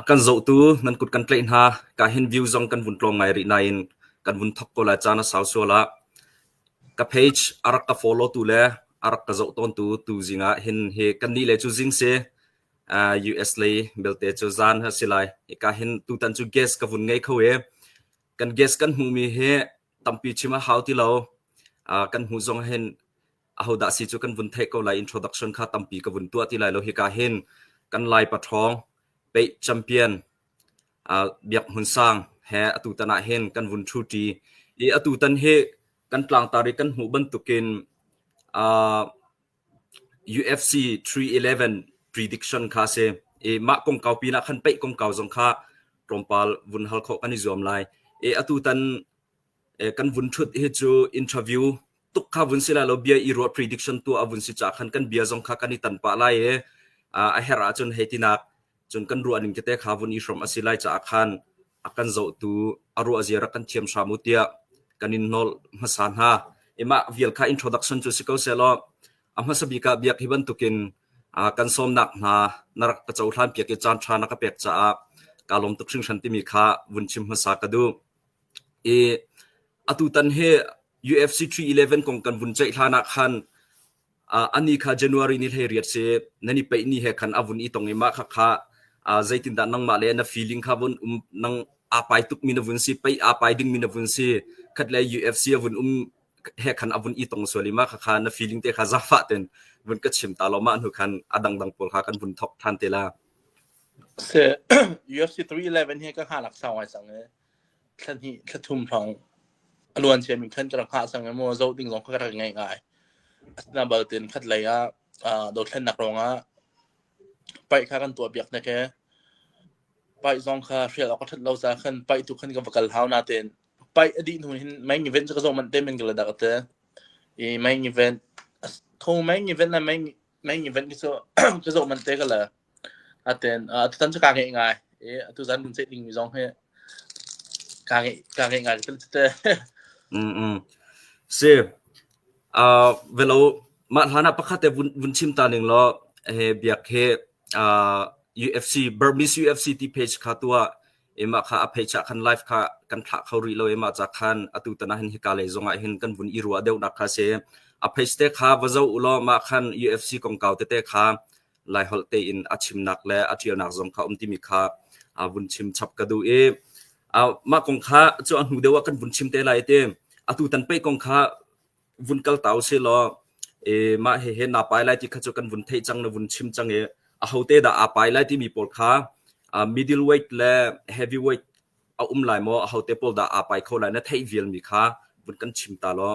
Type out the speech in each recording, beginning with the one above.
A kan zohtu nan kut kan tlaih hna. Ka hin view zong kan vun tlawng ngai rih nain kan vun thawk ko lai. Caan a sau sual ah ka page a rak ka follow-tu le a rak ka zoh tawntu tu zingah hin hi kannih le cu zing si uh, US lei belte cu zan ha si lai. Ika hin tutan cu guest ka vun ngei kho i kan guest kan hmuhmi hi tampi chim a hau ti lo. Uh, kan hmuh zong hin ahodah si cu kan vun theih ko lai introduction kha tampi ka vun tuah ti lai lo hika hin kan lai pathong pe champion uh, biak hun sang he atu tana hin kan vun thu ti i atu tan hi kan tlang tari kan hmu bantukin uh, UFC 311 prediction kha a si. I mah kongkau pinah khan peih kongkau zong kha tlawmpal vun hal khawh kan i zuam lai. E atu tan e, kan vun thut hi cu interview tuk kha vun si lai lo bia i ruat prediction tu a vun si cha khan kan bia zong kha kan i tan pa lai e a her ahcun heitinak cun kan ruah ning tete kha vun i hrom a si lai caah khan a kan zohtu a ruahzia rak kan thiam hram u tiah kan in hnawl hmasa hna. I mah vial kha introduction cu si ko sehlaw a hmasa bik ah biak hi bantukin uh, kan sawmnak hna na rak ka cohlan piak i caan ṭha na ka pek caah ka lawm tuk hringhran timi kha vun chim hmasa ka duh. I atu tan hi UFC 311 kong kan vun ceih hlan ah khan ani kha January ni hlei riat si nan i peih ni he khan a vun i tong i mah kha kha zeitindah nangmah le na feeling kha vun um nang apai tuk mi na vun si pei apai ding mi na vun si khat le UFC a vun um he khan a vun i tong sual i ma kha kha na feeling te kha zafa ten vun ka chim ta lo ma nu khan a dang dang pol kha kan vun thok than te la se UFC 311 hi ka ha lak sau ngai sang e thla hnih thla thum hrawng a luan mi khan ka rak hngah sang maw zoh ding zong kha ka rak ngaih ngai asina baltin khat lei ah dothlennak ruangah paih kha kan tuah piak na ke paih zong kha hrial awk ka that lo ca khan paih tu khan ka va kal hau na ten paih a dih hnu hin main event ka zo man te men gala dak te i main event tho main event na main main event ki so ka zo man te gala Aten uh, tutan cu kaa ngeih ngai i tuzan kan ceih dingmi zong hi kaa ngeih kaa ngeih ngai kan tete. Mm mm. Si. Uh, velo mah hlan ah pakhat te vun, vun chim ta ning law he biak he uh, UFC Burmese UFC ti page kha tu ah ema kha a page ah khan live kha kan thla kho ri lo ema cha khan atu tana hin hi kale zong ah hin kan vun i ruwa deuh nak kha se a page te kha va zo ulo ma khan UFC kong kau te te kha Laiholh tein a chimnak le a ṭialnak zong kha um timi kha aa vun chim chap ka duh i mah kong kha cu a hnu deuh ah kan vun chim te lai ti atu tan pei kong kha vun kal ta usih law e mah he he na pai lai ti kha cu kan vun theih cang na vun chim cang i a hote dah aa pai lai timi pawl kha middle weight le heavy weight a um lai maw a hote pawl dah aa pai kho lai na theih vialmi kha vun kan chim ta law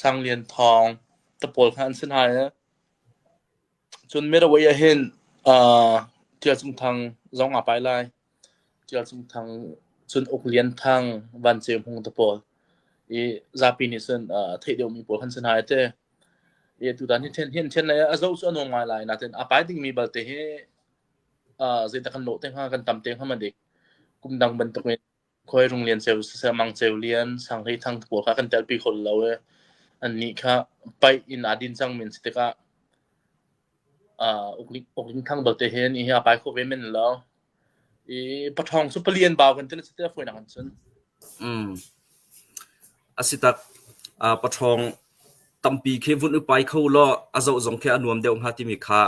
Sang Lian Thawng te pawl kha an si hna i cun Meraway ah hin uh, Ṭial Cung Thang zong aa pai lai. Ṭial Cung Thang cun Uk Lian Thang, Van Ceu Hmung te pawl i zapi nih cun uh, theih deuhmi pawl kan si hna i te i tutan hi ṭhen hin ṭhen a zo cu a nuam ngai lai nain a pai dingmi balte hi uh, zeidah kan lawh te hnga kan tam te hnga ma dik kum dang bantukin khuairung lian ceu siseh, mang ceu lian, sanghlei thang khua kha kan telpi kho lo i annih kha paih in aa din cangmi an si tikah uh, ukling thang belte hen i a pai kho ve men lo. I pathawng cu palian bau kan tin a si ti foinak an cun. Mm. A si tak uh, pathawng tampi khe vun upai kho lo a zo zong khe a nuam deuh hnga timi kha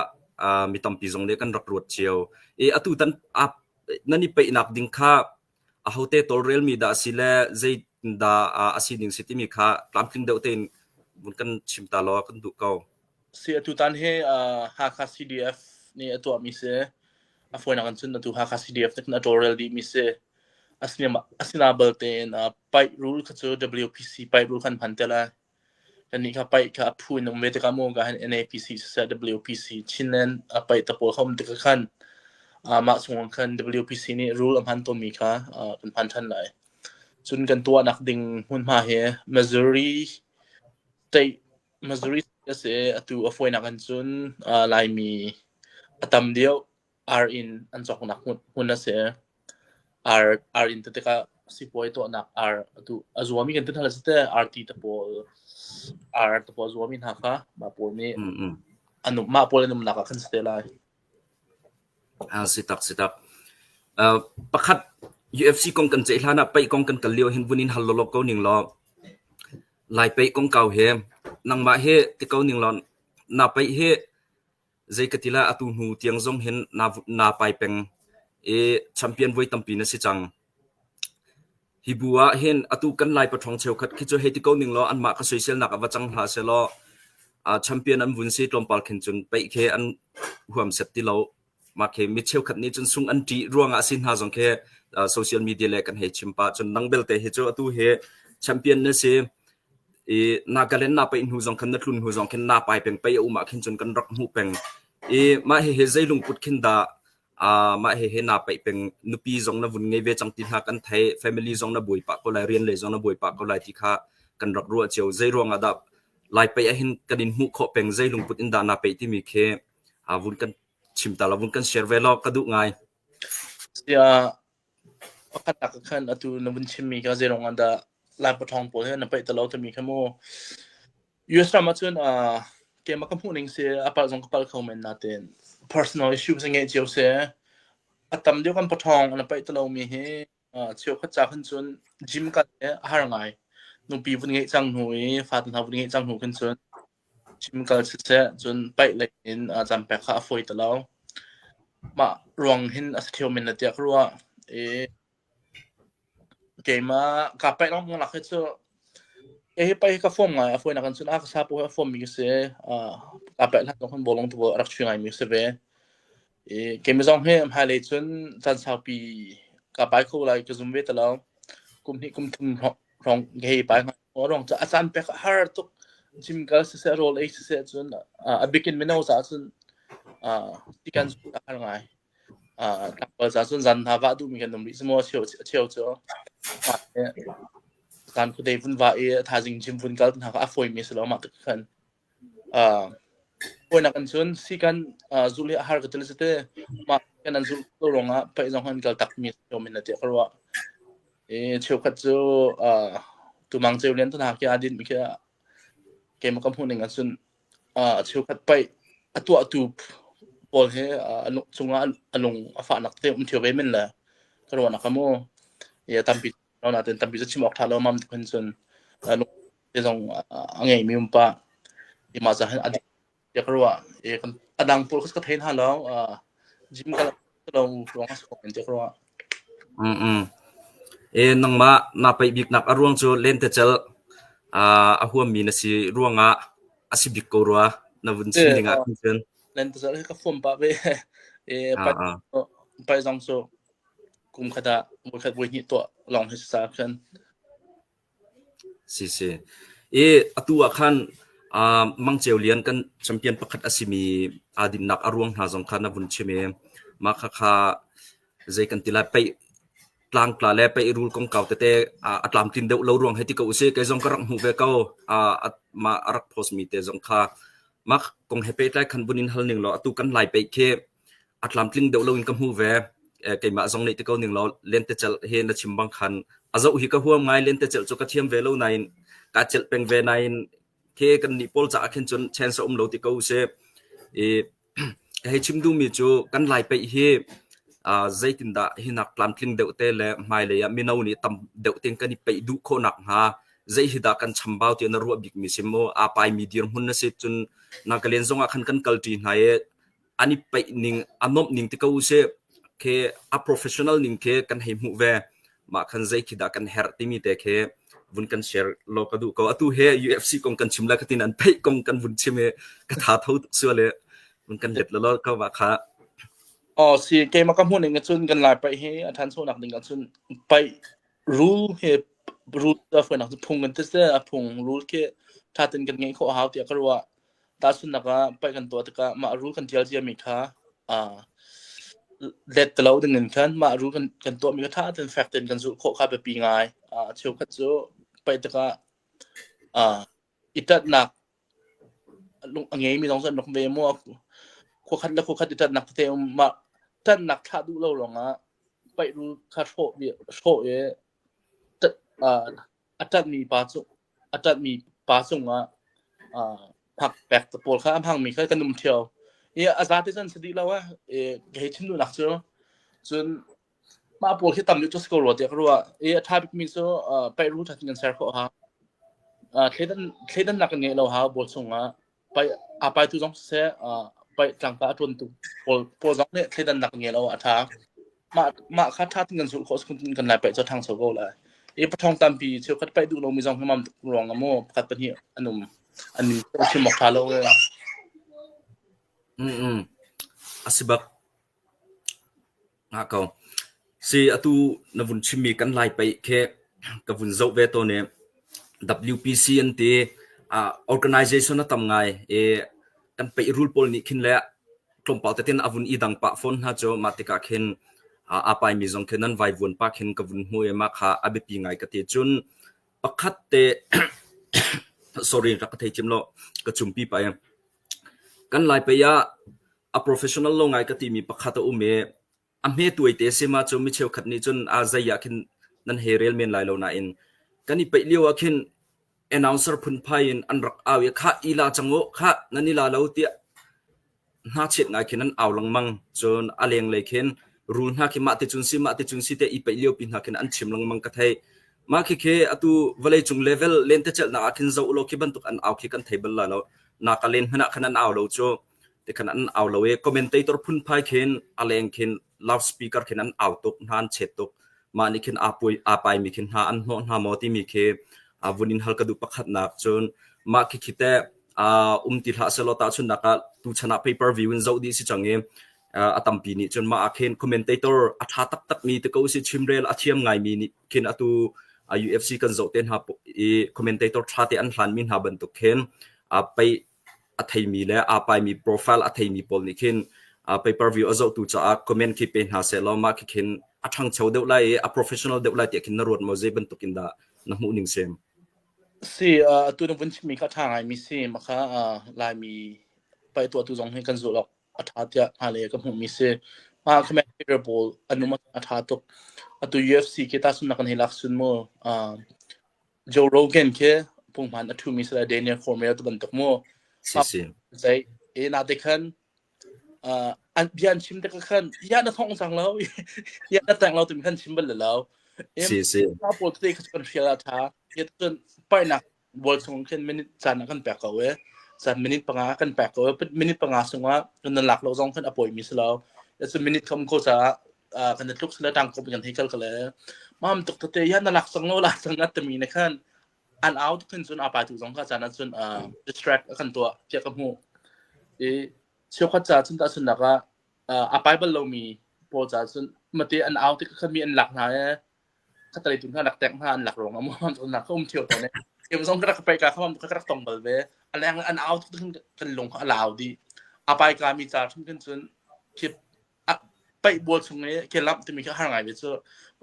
uh, mi tampi zong nih kan rak ruat cio i atu tan nan i peihnak ding kha ahote tawlrelmi dah a si le zeitindah a si ding si timi kha tlamtling deuh tein vun kan chim ta law kan duh ko. Si atutan hi Hakha CDF nih a tuahmi si a fawinak in cun atu Hakha CDF nih a tawlrel dihmi si asina bal tein pipe rule kha cu WPC pipe rule khan hman te lai Anih kha paih kha a phu in um ve tikah maw ka han NAPC siseh WPC Chinland a paih tapawl kha um tikah khan amah chungah khan WPC nih rule a hman tawnmi kha kan hman ṭhan lai. Cun kan tuahnak ding hmunhma hi Missouri state Missouri a si i atu a fawinak in cun Laimi a tam deuh. ar in an cawknak hmun hmun a si. Ar ar in ti tikah sipuai tuahnak ar a tu a zuami kan ti hna le si te arti te pawl ar te pawl a zuami hna kha mah pawl nih Mm, mm. an um mah pawl an umnak ah kan si te lai. Ah, si tak si tak. Uh, pakhat UFC kong kan ceih hlan ah pei kong kan kal lio hin vun in hal lolok ko ning lo. Lai pei kong kau he nangmah he ti ko ning lon na pei he Zei ka ti lah atu hnu tiang zong hin naa pai peng i champion voi tampi na si cang. Hi bu ah hin atu kan Lai paṭhawng cheukhat khi cu hei ti ko ning law anmah ka soiselnak ah va cang hlah sehlaw uh, champion an vun si tlawmpal khin cun peih khi an huam set ti lo. Mah khi mi cheukhat nih cun sung an ṭih ruangah si hna zong khi uh, social media le kan hei chim pah cun nang belte hi cu atu hi champion na si I Nagaland na paih hnu zong khan na tlun hnu zong khin Napai peng pei a um ah khin cun kan rak hmuh peng. I mah hihi zei lungput khin dah aa mah hihi na paih peng nupi zong na vun ngei ve cang ti hna kan theih. Family zong na buai pah ko lai, rian lei zong na buai pah ko lai ti kha kan rak ruah cio. Zei ruang ah dah lai paih ah hin kan in hmuh khawh peng zei lungput in dah na paih timi khi aa vun kan chim ta la, vun kan share ve law ka duh ngai. Sia, Pakhat ah ka khan atu na vun chimmi kha zeiruang ah dah Laipathawng pawl hi na paih ta lo timi kha mu. US ram ahcun uh, keimah ka hmuh ning si a palh zong ka palh kho men natein personal issues ngeih cio si. A tam deuh kan pathawng na paih ta lomi hi uh, cheu khat ca khan cun gym kal hi a har ngai. Nupi vun ngeih cang hnu i fata hna vun ngeih cang hnu khan cun Cim kal siseh cun paih lek in cam pek kha a fawi ti lo. Mah ruang hin a si theu men tiah ka ruah. I keimah kaa paih lengmang lak hi cu kei hi paih hi ka fawm ngai. A fawinak in cun a ka sapu hi a fawmmi ka si i kaa paih hlan zong khan bawlung tu a rak chuih ngaimi ka si ve. I keimah zong hi hmailei cun caan saupi kaa pai kho lai ka zum ve ti lo. Kum hnih kum thum hrawng kei hi pai ngai. Awrong cu a caan pek a har tuk. Gym kal siseh, rawl ei siseh cun uh, a bikin mino caah cun uh, tikan cu a har ngai. Uh, tlangpal caah cun zan hna vah duhmi kan um rih. Semaw a cheu, a cheu cu mah le caan khudei vun vah i a thazing gym vun kal hna kha a fawimi a si lo. Mah tuk khan Hawinak in cun sikan zulh hi a har ka ti le si te. Mah sikan an zulh ko ruangah paih zong an kal takmi a si ṭhiam in a ti ka ruah. I cheukhat cu tumang ceu lian tuna khi aa dinhmi khi keimah ka hmuhning ah cun a cheukhat paih a tuahtu pawl hi a nuk chungah a lung a fahnak te um ṭhio ve men le ka ruahnak a mu. I tampi natein tampi cu chim awk ṭha lo mam tuk hin cun Hi zong a ngeimi um pa i mah caah a dik tiah ka ruah. I kan a dang pawl ka thei hna lo. Uh, gym ka lo ruang a si ko tiah ka ruah. Mm mm. E nangmah na pei biknak a ruang cu lentecelh uh, a huammi na si ruangah a si bik ko rua na vun chim ding ah cun. Lentecelh hi ka fuam pa be. E pai pai zong so kum khat a voi khat voi hnih to long hi sa khan. siseh. I atu ah khan aa mangceu lian kan champion pakhat a simi aa dinnak a ruang hna zong kha na vun chim i mah khakha zei kan ti lai pei tlangtla le pei rul kongkau tete a tlamtlin deuh lo ruang hei ti ko usih. Kei zong ka rak hmuh ve ko. Mah a rak post mi te zong kha mah kong he pehtlai khan vun in hal ning law atu kan lai pei khi a tlamtling deuh loin ka hmu ve. keimah zong nih ti ko ning law lentecelh hi na chim bang khan a zoh hi ka huam ngai lentecelh cu ka thiam ve lo nain ka celh peng ve nain khi kan nih pawl caah khin cun chance a um lo ti ko se i hei chim duhmi cu kan lai peih hi zeitindah hinak tlamtling deuh te le hmailei ah mino nih tam deuh ten kan i peih duh khawhnak hnga zei hi dah kan chambau ti na ruah bikmi si mu a pai mi dir hmun na si cun na ka len zong ah khan kan kal ṭi hna i an i peih ning a nuamh ning te ko usih khi a professional ning khi kan hei hmuh ve mah khan zei khi dah kan herh timi te khi vun kan share lo ka duh ko atu he UFC kong kan chim la khatin an phei kong kan vun chim he ka tha tho suale vun kan let lo ka wa kha oh si ke ma ka mu ning chun kan lai pai he a than so nak ding ka chun pai rule he rule da foi nak phung kan te se a phung rule ke thatin kan ngei kho hau ti ka ruwa Tahchunhnak ah, paih kan tuah tikah mah rul kan ṭial ciami kha aa let ti lo dingin khan mah rul kan kan tuahmi kha ṭha tein fek tein kan zulh khawh kha biapi ngai. Aa cheukhat cu paih tikah aa i ṭatnak lung a ngeimi zong cu an rak ve maw? Khuakhat le khuakhat i ṭatnak tete um. Mah ṭatnak thlah duh lo ruangah paih rul kha hrawh i hrawh i ṭat aa a ṭanhmi pa cu a ṭanhmi pa cungah phak pek te pawl kha a hmangmi kha kan um ṭheo i a za te cun si dih lo ah kei thinduhnak cu cun mah pawl khi tam deuh cu si ko rua tiah ka ruah i a ṭha bikmi cu Peru ṭhat kan ser khawh ha thleidannak kan ngeih lo ha bual chungah a paitu zong siseh paih tlangta a ṭuantu pawl pawl zong nih thleidannak ngei lo a ṭha. Mah mah kha ṭha tein kan zulh khawh phun in kan lai paih cu ṭhang soi ko lai. I pathong tampi cheukhat paih duh lomi zong hi mam tuk ruang ah maw pakhat pahnih an um an ning chim awk ṭha lo ee. Mm-mm. A si bak. Ngah ko. Si, atu na vun chimmi kan lai pei khi ka vun zoh ve tawn i WPC an ti. Ah, organization a tam ngai i kan peirul pawl nih khin le tlawmpal tete in a vun i dang pah fawn hna cu. Mah tikah khin ah aa paimi zong khin an vaivuan pa khin ka vun hmu i mah kha a biapi ngai ka ti. Cun pakhat te sorry, rak ka thei cim lo. Ka cumpi pah i kan lai pei ah a professional lo ngai ka timi pakhat a um i a hme tuaite a si ma cu mi cheukhat nih cun a zei ah khin nan he rel men lai lo nain kan i peih lio ah khin announcer phunphai in an rak au i kha i la cang u kha nan i la lo tiah hna chiat ngai khin an au lengmang cun a leng lei khin rul hna khi mah te cun si mah te cun si te i peih lio pi hna khin an chim lengmang ka thei mah khi khi atu vawlei cung level len te chelh na ah khin zo lo khi bantuk an au khi kan thei bal la lo na ka len hna khan an au lo chu tikhan an au lo i commentator phunphai khin a leng khin loudspeaker khin an au tuk hna an chet tuk mah nih khin aa pui aa pai mi khin hna an hnawh hna maw timi khi a vun in hal ka duh pakhatnak cun mah khi khi teh um ti hlah selaw ta chun nak ah tu chan ah pay per view in zoh di si chang i a tampi nih cun mah ah khin commentator a tha taktak mi te ko si chimrel a thiam ngai mi nih khin atu UFC kan zoh te hna i commentator tha te an hlan mi hna bantuk khin a pei a theimi le aa paimi profile a theimi pawl nih khin pay per view a zohtu caah comment khi pe hna sehlaw mah khi khin a ṭhangcho deuh lai i a professional deuh lai tiah khin na ruat maw zei bantuk in dah na hmuh ning sem si atu na vun chimmi kha ṭha ngaimi si makha laimi pai tuahtu zong hi kan zulh awk a ṭha tiah hna le ka hmuhmi si mah commentator pawl anum a ṭha tuk atu UFC ke ta sun nakan hi lak sun mu Joe Rogan khi pungman a thumi sila Daniel Cormier tu bantuk mu zei e na te khan an bian chim te khan ya na thong sang lo ya na tang lo tu khan chim bal lo si si ma pol te kha kan fia tha ye tun pai na bol chung khan minute chan kan pek ko e sa minute panga kan pek ko minute panga sunga kan lak lo zong khan apoi mi slo it's a minute come ko sa kan tluk sala tang ko bian hei kal kale mam tuk te ya na lak sang lo la sang at mi ne khan an au tuk sun apa tu zong ka chan sun distract kan to pia ka mu e chio khat cha sun ta sun na ka a bible lo mi po cha sun mate an au te khan mi an lak na e khatale tun khan lak tek ha an lak rong amon sun na ka um thio to ne em zong ka ka pai ka kham ka ka tong bal ve alang an out kan lung ka lao di apai ka mi cha thun kan sun kip a paih bual chung i ke lamh timi khi har ngai mi cu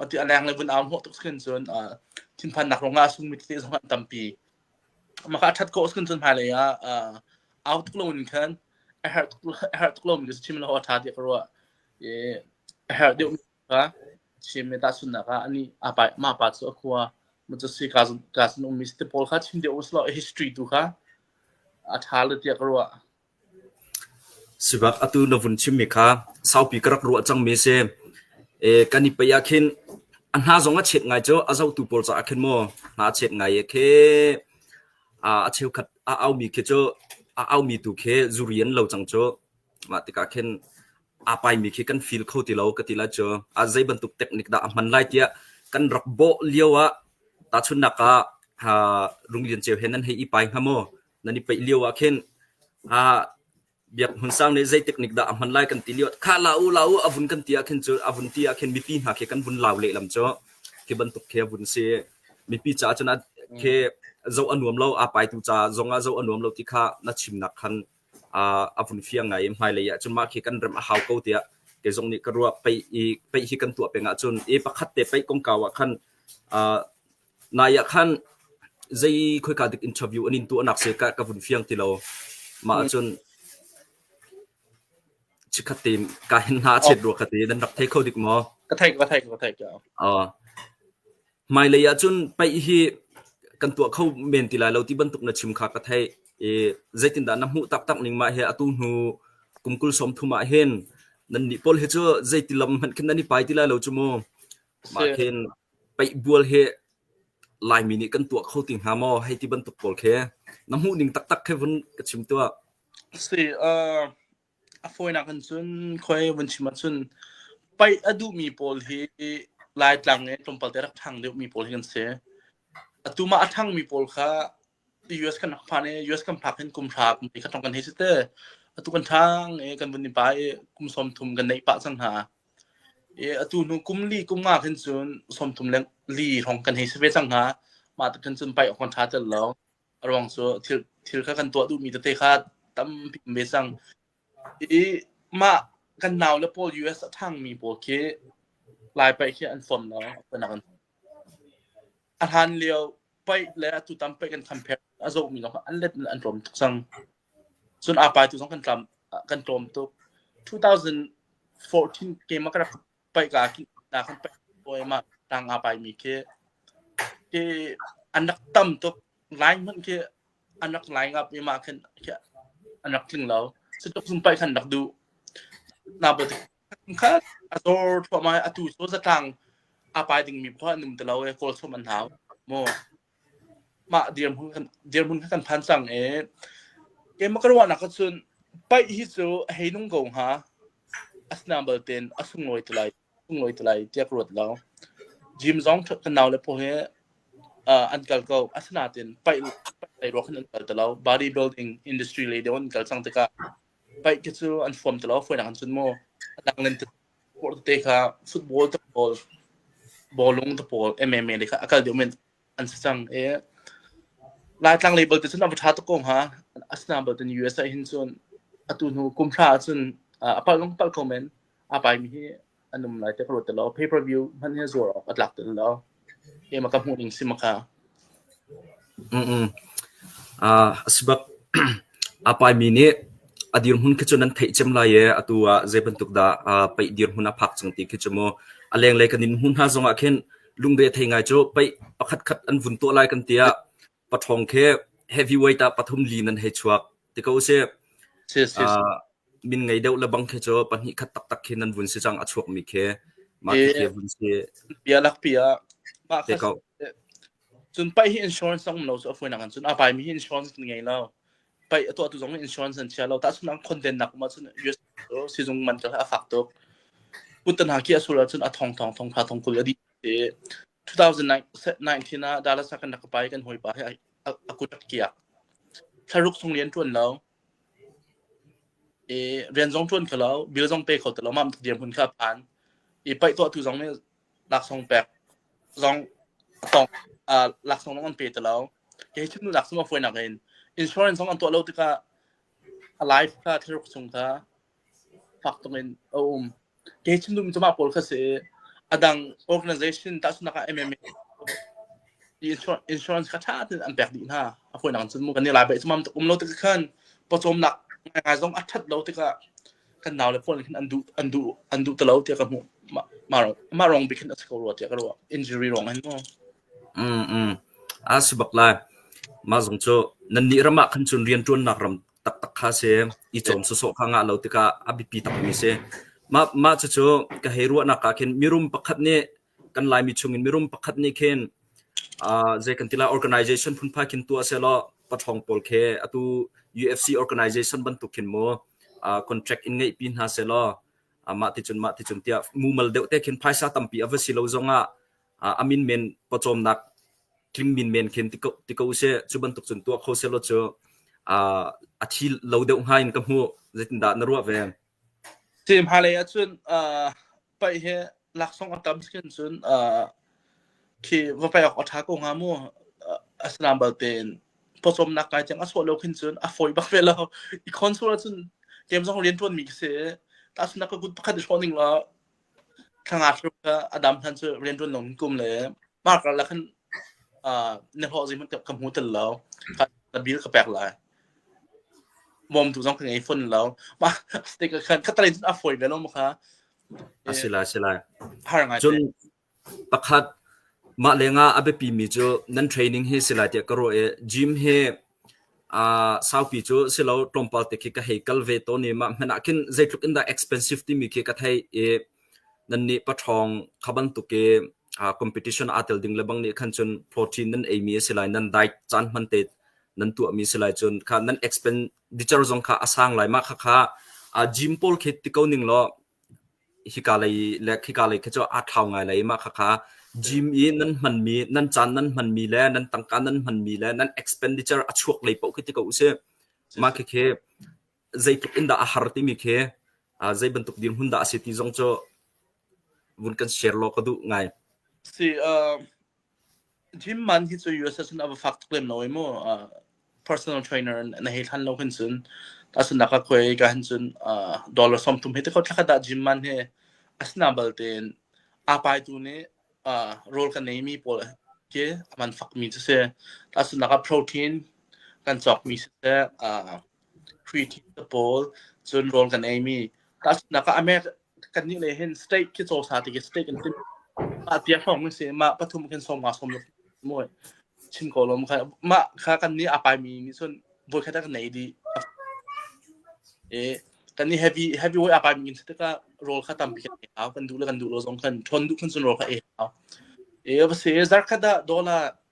ti a leng le vun au hmuh tuk khin cun thinphan nak rongah sung mi tete zong an tampi mah kha a that ko khin cun hmai lei ah au tuk lo in khan a har tuk a har tuk lo mi chim lo tha ti ka ru e a har deuh ka chim me ta sun na ka ani a pa ma pa chu a khua mu chu si ka zun ka sun um mi ste paul kha chim de us lo history tu kha a tha le ti ka ru Sibak atu na vun chimmi kha saupi ka rak ruah cangmi a si. Kan i paih ahkhin a hna zong a chet ngai cu. A zotu pawl caah khin maw hna a chet ngai ee kheh. A cheukhat a aumi khi cu a aumi tu khi zuri an lo cang cu. Mah tikah khin aa paimi khi kan feel kho ti lo ka ti lai cu. A zeibantuk teknik dah a hman lai tiah kan rak bawh lio ah tahchunhnak ah Runglian Ceu he nan hei i pai hnga maw? nan i peih lio ah khin ah biak hmun sang nih zei teknik dah a hman lai kan ti lio kha la u la u a vun kan ti ah khin cu a vun ti ah khin mipi hna khi kan vun lau lehlam cu khi bantuk khi a vun si mipi caah cun a khi zo a nuam lo a pai tu ca zong ah zo a nuam lo ti kha na chimnak khan a vun fiang ngai hmai lei ah cun mah khi kan rem a hau ko tiah kei zong nih ka ruah pei i pei hi kan tuah peng ah cun e pakhat te pei kongkau ah khan Nai ah khan zei khoika dik interview an in tuahnak si ka, ka vun fiang ti lo. Mah ahcun chikkhat te ka hen hna a chet rua ka ti. Nan rak thei kho dik maw? Ka theih, ka theih, ka theih. Uh, hmailei ah cun paih hi kan tuah kho men ti lai lo ti bantuk na chim kha ka theih. I zeitindah na hmuh taktak ning mah he atu hnu kum kul sawm thum ah hin nan nih pawl hi cu zeiti lam hmanh khin nan i pai ti lai lo cu mu. Mah khin peihbual hi Laimi nih kan tuah kho ti hnga maw hei ti bantuk pawl khi na hmuh ning taktak khi vun ka chim tuah. Si, uh, a fawinak in cun khoi vun chim ahcun paih a duhmi pawl hi Laitlang i tlawmpalte rak ṭhang deuhmi pawl hi kan si. Atu mah a ṭhangmi pawl kha US kan rak phan i US kan phak hin kum hra kum khat kan hei si te atu kan ṭhang i kan vun i pai i kum sawm thum kan neih pah cang hna i atu hnu kum li kum nga khin cun sawm thum le li hrawng kan hei si ve cang hna mah tuk khin cun paih awk kan ṭha tel lo a ruang cu thil thil kha kan tuah duhmi tete kha tampi ve cang i mah kan nau le pawl US a ṭhangmi pawl khi lai paih khi an form lo. A hlan lio paih le a tutam paih kan kham phek a zohmi lawng an let an tlawm tuk cang. Cun a pai tu zong kan tlam kan tlawm tuk. 2014 game a ka rak paih ka ki na kan paih boy ma tang a pai mi khi ki anak tam tuk line mun khi anak line up mi ma khan an rak tling lo. Su tuk sum paih khan rak du na bo khat a zor thuahmah i atu cu zatlang a pai dingmi khua an um ti lo i kawl chom an hau maw mah dirhmun kan dirhmun kha kan phan cang i keimah ka ruahnak ka cun paih hi cu hei nung ko hnga a sinang bal tein a sunglawi ti lai sunglawi ti lai tiah ka ruat lo gym zong ka nau le pawh hi uh, an kal ko asinain paih paih ruak hin an kal ti lo bodybuilding industry lei deuh an kal cang tikah paih te cu an hluam te lo fuinak an cun maw adang len te por te kha football te pawl bawlung te pawl MMA le kha akal deuh men an se cang e laitlang label te cun ava tha to ko ha asna bal ten USA hin cun atu hnu kumthla cun apal lung pal ko men apai mi hi an um lai ti ka ruat lo pay per view hman hi zuar awk a tlak tel lo e ma ka hmuh ning si ma ka mm mm uh asbak apai mi ni adir hun khi chun an thei chem lai e atu a je ban tuk da pai dir hun a phak chung ti khi chumo aleng le kanin hun ha zonga khen lungde thei ngai chu pai pakhat khat an vun to lai kan tia Paṭhawng khi heavyweight ah pathum li nan hei chuak ti ko si. Uh, min ngei deuh lebang khi cu pahnih khat taktak khi nan vun si cang a chuakmi khi mah khi vun si. Bia lak bia mah khat cun pai hi insurance zong lo so afuin nang cun a pai mi hi insurance ngei lo pai a tuah tu zong insurance an chia lo ta sun ang content nak ma cun US sizung man ta a fak tuk putan ha ki asul cun a thong thong thong pha thong kul adi 2019 ah Dallas ah kan rak ka pa i kan hawipa he a, a kut a kiak. Thlaruk sung lian ṭuan lo. I rian zong ṭuan kho lo, bil zong pe kho ti lo, mam tuk diam hun kha phan. I paih tuah tu zong nih laksong pek zong tong uh, laksong zong an pe ti lo. Kei thim nu laksong a fuai nak in insurance zong an tuah lo tikah a life kha thlaruk sung kha fak tung in a um ke chindum cuma pawl kha si a dang organization tahchunak ah MMA insurance kha tha tein an pek dih hna a phoi nang cun mu kan ni lai bai chumam um lo tik khan pawcawmnak ngai zong a that lo tikah kan nau le phone khin an duh an duh an duh talo tiah ka hmu ma rong ma rong bikin a siko rua tiah ka rua injury rong an mo mm mm a sibak lai ma zong chu nan ni rama khan chun rian tuan nak ram taktak kha a si. I cawm sawsawh kha ngah lo tikah a biapi takmi a si. Mah, mah cucu ka hei ruahnak ah khin mirum pakhat nih kan Laimi chungin mirum pakhat nih khin uh, zei kan ti lai organization phunpha khin tu ase law pathong pawl khe atu UFC organization bantuk khin mo uh, contract in ngei pi hna se law amah ti chun mah ti chun tiah mumal deuh te khin phaisa tampi ava si lo zongah a minmen pawcawmnak tling minmen khin ti ko seh cu bantuk cun tuah kho selaw cu a thi lo deuh hnga in ka hmuh zeitindah na ruah ve si hmalei ah cun paih hi laksong a tam skin cun khi va paih awk a tha ko hnga mu asnam balten pawcawm nak kai chang a suah lo khin cun a foi bak ve lo i console cun game zong rian tuan mi ka se ta suna ka good pakhat i shoning la thlangakhruk kha a dam hlan cu rianṭuan lawng in kum le mar karlak khan na hlawh zei hmanh ka hmu tel lo ka bil ka pek lai mawmtu zong ka ngei fon lo mah stik khan khatara cun a fawi ve lo ma kha a si lai a si lai har ngai cun Pakhat, mah lengah a biapimi cu nan training hi si lai tiah ka ruah i gym hi aa saupi cu si lo tlawmpal te khi ka hei kal ve tawn i mah hmanh ah khin zeitluk in dah expensive timi khi ka theih i nannih paṭhawng kha bantuk i aa competition aa tel ding lebang nih khan cun protein nan eimi a si lai nan diet caan hman te nan tuahmi si lai cun kha nan expenditure zong kha a sang lai mah khakha aa gym pawl khi ti ko ning law hika lei le khika lei khi cu aa thlau ngai lai i mah khakha gym i nan hmanmi nan caan nan hmanmi le nan tangka nan hmanmi le nan expenditure a chuak lei paoh khi ti ko usih mah khikhi zeitluk in dah a har timi khi uh, zei bantuk dirhmun dah a si ti zong cu vun kan share law ka duh ngai si uh, Jim man hi cu USA sun a va fak tuk lem lo ai mu. Uh, personal trainer na hei thlan lo hin sun. Ta sun naka koi ka hin sun uh, dollar som tum he te ko thakhat da Jim man he asna balte apai tu ne uh, role kan nei mi pawl ke aman fak mi se se ta sun naka protein kan chok mi se uh, hruithin te pawl cun rawl kan ei mi tahchunhnak ah America kannih le hin state khi cawsa ti khi state kan tim mah tiang hong si mah pathum kan sawm nga sawm lo mui chim ko lom kha mah kha kan ni apai mi mi sun voi khat kan nei di e kan ni heavy heavy way apai mi state ka roll kha tam bi kan kan du le kan du lo zong kan thon du kan sun roll kha e e ba se zar kha da dollar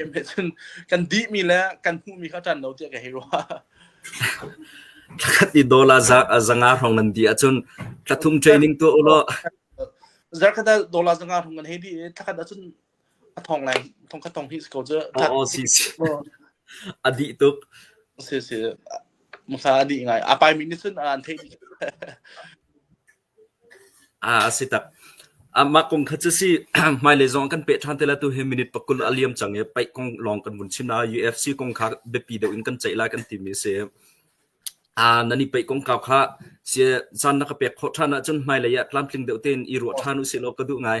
Ime cun kan dihmi le kan hmuhmi kha ṭan lo tiah ka hei ruah. Thlakhat i dawr a zanga hrawng nan di ahcun tlathum training tuah u law. Zarkhat ah dawr a zanga hrawng nan hei di i thlakhat ahcun a thong lai thong khat thong hi ko cu. Oh, si si. A dih tuk. Si si. Musa a dih ngai. A pai mi nih cun an thei dih. A si tak. Mah kong kha cu a si. Hmailei zong ah kan peh ṭhan te lai. Atu hi minute pakul a liam cang i paih kong lawng kan vun chim lai. UFC kong kha biapi deuh in kan ceih lai kan timi a si. Nan i paih kongkau kha zan na ka pek khawh ṭhan ahcun hmailei ah tlamtling deuh tein i ruah ṭhan u sih law ka duh ngai.